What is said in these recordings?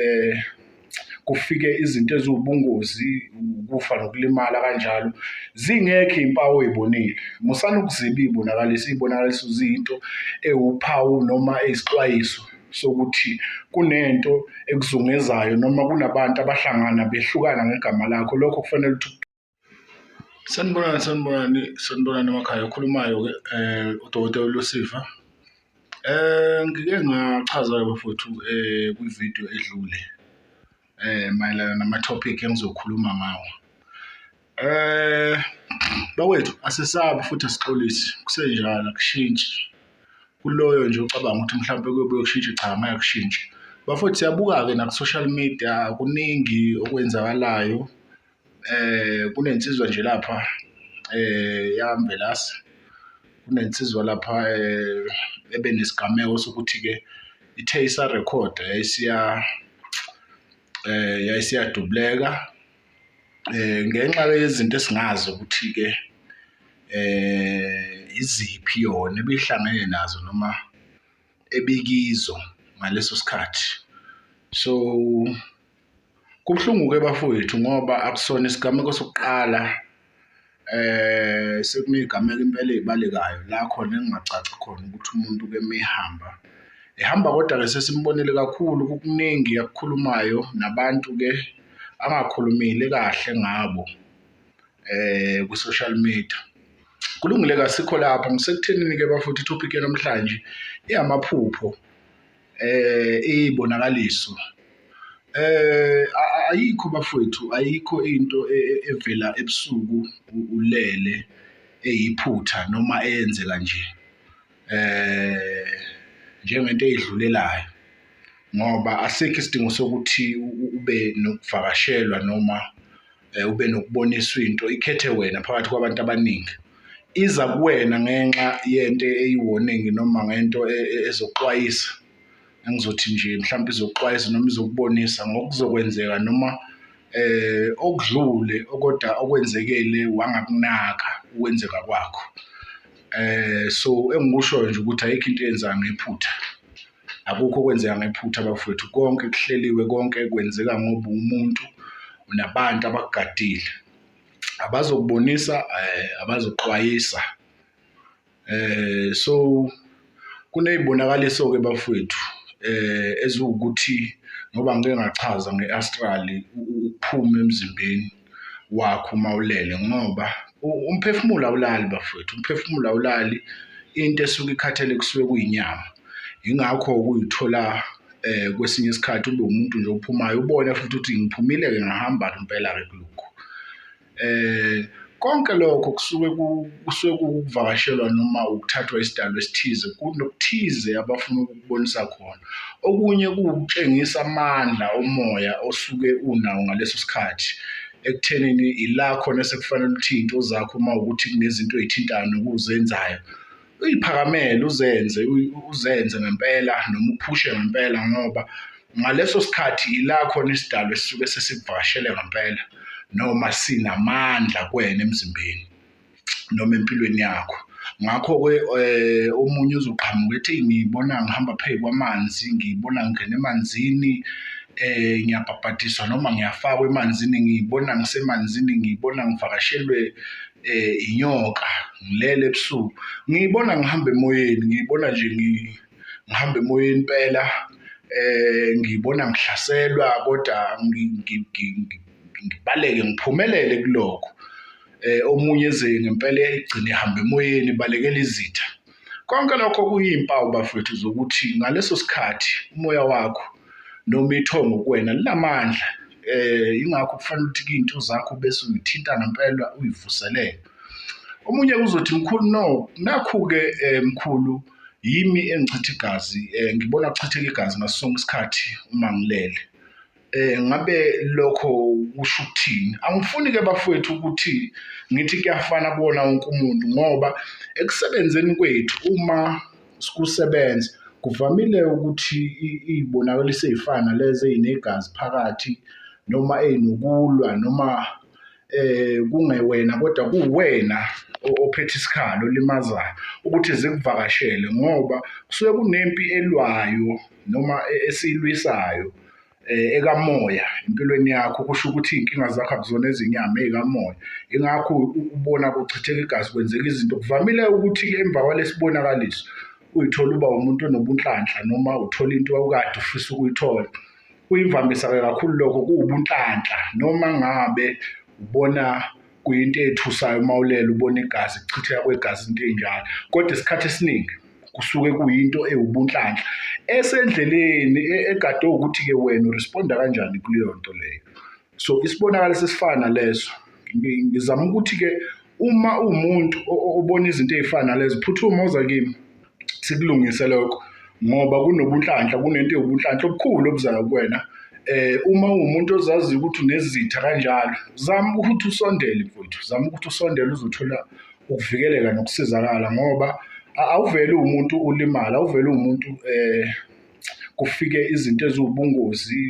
eh kufike izinto eziwubungozi ukufa nokulimala kanjalo zingekho impawu oyibonile musana ukuziba ibonakalisa ibonakaliso ziyinto ewuphawu noma eyisixwayiso sokuthi kunento ekuzungezayo noma kunabantu abahlangana behlukana ngegama lakho lokho kufanele ukuthi Sanibonani sanibonani sanibonani emakhaya okhulumayo ke eh udokotela Lusifa eh ngike ngachaza ke bafowethu eh kwi video edlule eh mayelana nama topic engizokhuluma ngawo eh bakwethu asisabi futhi asixolisi kusenjalo akushintshi kuloyo nje ucabanga ukuthi mhlawumbe kuyobuye kushintshe cha ngeke kushintshe bafowethu siyabuka-ke naku-social media kuningi okwenzakalayo eh kunensizwa nje lapha eh yambelasi kunensizwa lapha eh ebe nesigameko sokuthi ke ithe isa record yayisiya eh yayisiya dubleka eh ngenxa yezinto esingazi ukuthi ke eh iziphi yona ebihlangene nazo noma ebikizo ngaleso sikhathi so Kubuhlungu-ke bafowethu ngoba akusona isigameko sokuqala eh sekunezigameko impela ezibalekayo la khona engingacaci khona ukuthi umuntu ke mehamba ehamba kodwa ke sesimbonile kakhulu kukuningi akukhulumayo nabantu ke angakhulumile kahle ngabo eh ku social media kulungile kasikho lapho ngisekutheni ke bafowethu topic namhlanje iyamaphupho eh ibonakaliso eh ayikho bafowethu ayikho into e, e, evela ebusuku ulele eyiphutha noma eyenzeka nje eh njengento eyidlulelayo ngoba asekho isidingo sokuthi ube nokuvakashelwa noma eh, ube nokuboniswa into ikhethe wena phakathi kwabantu abaningi iza kuwena ngenxa yento eyiwoningi noma ngento e, e, ezoxwayisa engizothi nje mhlawumbe izoxwayisa noma izokubonisa ngokuzokwenzeka noma eh okudlule okoda okwenzekele wangakunaka ukwenzeka kwakho eh so engikusho nje ukuthi ayikho into eyenza ngephutha akukho okwenzeka ngephutha bafowethu konke kuhleliwe konke kwenzeka ngoba umuntu unabantu abakugadile abazokubonisa eh, abazoxwayisa eh so kunezibonakaliso ke bafowethu eh eziwukuthi ngoba ngike ngachaza ngeastrali ukuphuma emzimbeni wakho uma ulele ngoba umphefumulo awulali bafowethu umphefumulo awulali into esuke ikhathele kusuke kuyinyama yingakho ukuyithola eh kwesinye isikhathi ube umuntu nje ophumayo ubone futhi ukuthi ngiphumile ke ngahamba impela ke kulokho eh konke lokho kusuke kusuke kuvakashelwa noma ukuthathwa isidalwa esithize kunokuthize abafuna ukubonisa khona okunye kuwukutshengisa amandla omoya osuke unawo ngaleso sikhathi ekuthenini ila khona sekufanele ukuthi into zakho uma ukuthi kunezinto ezithintayo nokuzenzayo uyiphakamele uzenze uzenze ngempela noma uphushe ngempela ngoba ngaleso sikhathi ila khona isidalwa esisuke sesivakashele ngempela noma sinamandla kwena emzimbeni noma empilweni yakho ngakho-ke eh, um omunye uzoqhamuka ethi ngibona ngihamba phezu kwamanzi ngibona ngingena emanzini eh ngiyabhabhadiswa noma ngiyafakwa emanzini ngibona ngisemanzini ngibona ngivakashelwe eh inyoka ngilele ebusuku ngibona ngihamba emoyeni ngibona nje ngihamba emoyeni impela eh ngibona ngihlaselwa kodwa ngibaleke ngiphumelele kuloko eh omunye eze ngempela igcine ihamba emoyeni balekela izitha konke lokho kuyimpawu bafethu zokuthi ngaleso sikhathi umoya wakho noma ithongo kuwena linamandla eh ingakho kufanele ukuthi into zakho bese uyithinta ngempela uyivuselele omunye kuzothi mkhulu no nakhu ke eh, mkhulu yimi engichitha igazi eh, ngibona kuchitheka igazi ngaso sonke isikhathi uma ngilele eh ngabe lokho kusho ukuthini angifuni ke bafowethu ukuthi ngithi kuyafana kuwona wonke umuntu ngoba ekusebenzeni kwethu uma sikusebenza kuvamile ukuthi iy'bonakaliso ey'fana lezi ey'negazi phakathi noma ey'nokulwa noma eh kungewena kodwa kuwena ophethe isikhalo olimazayo ukuthi zikuvakashele ngoba kusuke kunempi elwayo noma e-, esilwisayo eh, ekamoya empilweni yakho kusho ukuthi iy'nkinga zakho akuzona ezinyama ey'kamoya ingakho ubona kuchitheka igazi kwenzeka izinto kuvamile ukuthi emva kwalesibonakaliso uyithola uba umuntu onobunhlanhla noma uthola into wawukade ufisa ukuyithola kuyimvamisa-ke kakhulu lokho kuwubunhlanhla noma ngabe ubona kuyinto ethusayo uma ulele ubona igazi kuchitheka kwegazi into enjalo kodwa isikhathi esiningi kusuke kuyinto ewubunhlanhla esendleleni e, egade ukuthi-ke wena uresponda kanjani kuleyo nto leyo so isibonakalo sesifana leso ngizama ukuthi-ke uma uwumuntu obona izinto ey'fana nalezo phuthuma oza kimi sikulungise lokho ngoba kunobunhlanhla kunento yobunhlanhla obukhulu obuzayo kuwena eh uma uwumuntu ozazi ukuthi unezitha kanjalo zama ukuthi usondele mfowethu zama ukuthi usondele uzothola ukuvikeleka nokusizakala ngoba awuvele umuntu ulimala awuvele umuntu eh kufike izinto eziwubungozi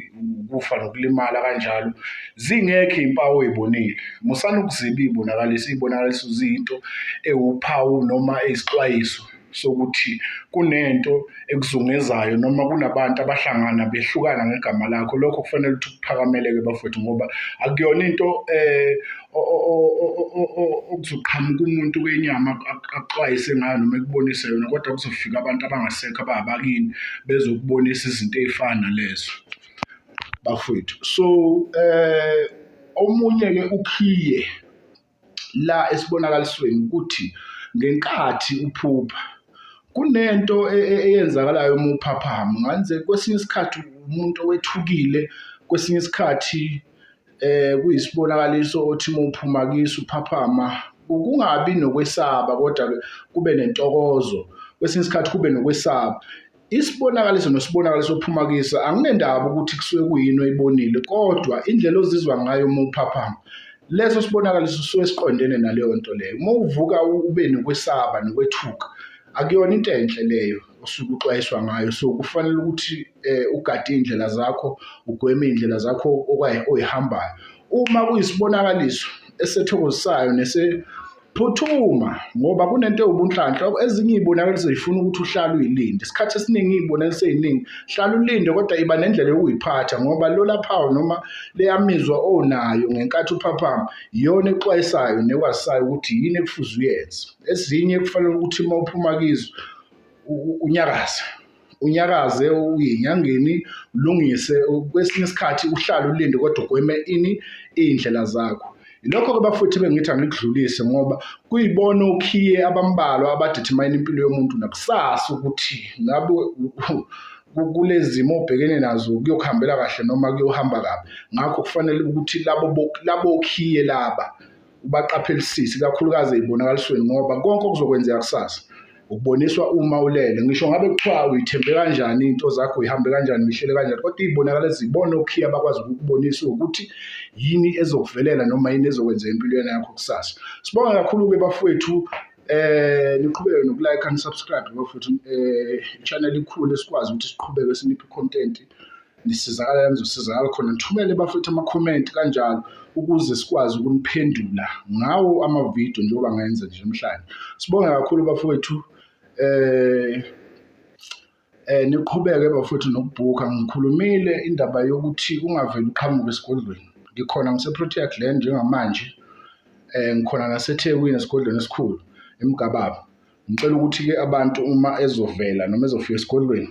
ukufa nokulimala kanjalo zingekho iy'mpawu ey'bonile musani ukuziba iy'bonakaliso iy'bonakaliso ziyinto ewuphawu noma eyisixwayiso sokuthi kunento ekuzungezayo noma kunabantu abahlangana behlukana ngegama lakho lokho kufanele ukuthi kuphakameleke bafowethu ngoba akuyona into um okuzoqhamuka umuntu kwenyama akuxwayise ngayo noma ekubonise yona kodwa kuzofika abantu abangasekho ababakini bezokubonisa izinto ey'fana nalezo bafowethu so eh omunye-ke ukhiye la esibonakalisweni ukuthi ngenkathi uphupha kunento e, e, eyenzakalayo uma uphaphama nganze kwesinye isikhathi umuntu owethukile kwesinye isikhathi eh kuyisibonakaliso othi uma uphuma kiso uphaphama ukungabi nokwesaba kodwa kube nentokozo kwesinye isikhathi kube nokwesaba isibonakaliso nosibonakaliso ophuma kiso anginendaba ukuthi kusuke kuyini oyibonile kodwa indlela ozizwa ngayo uma uphaphama leso sibonakaliso suke siqondene naleyo nto leyo uma uvuka ube nokwesaba nokwethuka akuyona into enhle leyo osuke uxwayiswa ngayo so kufanele ukuthi eh, ugade iy'ndlela zakho ugweme iy'ndlela zakho oyihambayo uma kuyisibonakaliso esethokozisayo nesephuthuma ngoba kunento ewubunhlanhla ezinye iy'bonakaliso zifuna ukuthi uhlale uyilinde isikhathi esiningi iy'bonakaliso ey'ningi hlale ulinde kodwa iba nendlela yokuyiphatha ngoba lolaphawu noma leyamizwa onayo ngenkathi uphaphama iyona exwayisayo nekwazisayo ukuthi yini ekufuze uyenze ezinye kufanele ukuthi uma uphuma kizo unyakaze unyakaze uyinyangeni ulungise kwesinye isikhathi uhlale ulinde kodwa ugweme ini iy'ndlela zakho Yilokho-ke bafowethu bengithi angikudlulise ngoba kuyibona okhiye abambalwa abadithemayina impilo yomuntu nakusasa ukuthi ngabe kulezi zimo obhekene nazo kuyokuhambela kahle noma kuyohamba kabi ngakho kufanele ukuthi labo labo okhiye laba ubaqaphelisise ikakhulukazi ey'bonakalisweni ngoba konke okuzokwenzeka kusasa ukuboniswa uma ulele ngisho ngabe kuthiwa uyithembe kanjani into zakho uyihambe kanjani uyihlele kanjani kodwa iy'bonakala ezibona okhiya bakwazi ukukubonisa ukuthi yini ezokuvelela noma yini ezokwenzeka empilweni yakho kusasa sibonga kakhulu-ke bafowethu eh niqhubeke nokulike and subscribe bafowethu eh channel ikhulu esikwazi ukuthi siqhubeke siniphe content nisizakala la nizosizakala khona nithumele bafethu amakhomenti kanjalo ukuze sikwazi ukuniphendula ngawo amavidiyo njengoba ngayenza nje namhlanje sibonge kakhulu bafowethu eh eh niqhubeke bafowethu nokubhuka ngikhulumile indaba yokuthi ungaveli uqhamuke esigodlweni ngikhona ngiseprotea glen njengamanje eh ngikhona nasethekwini esigodlweni esikhulu emgababa ngicela ukuthi-ke abantu uma ezovela noma ezofika esigodlweni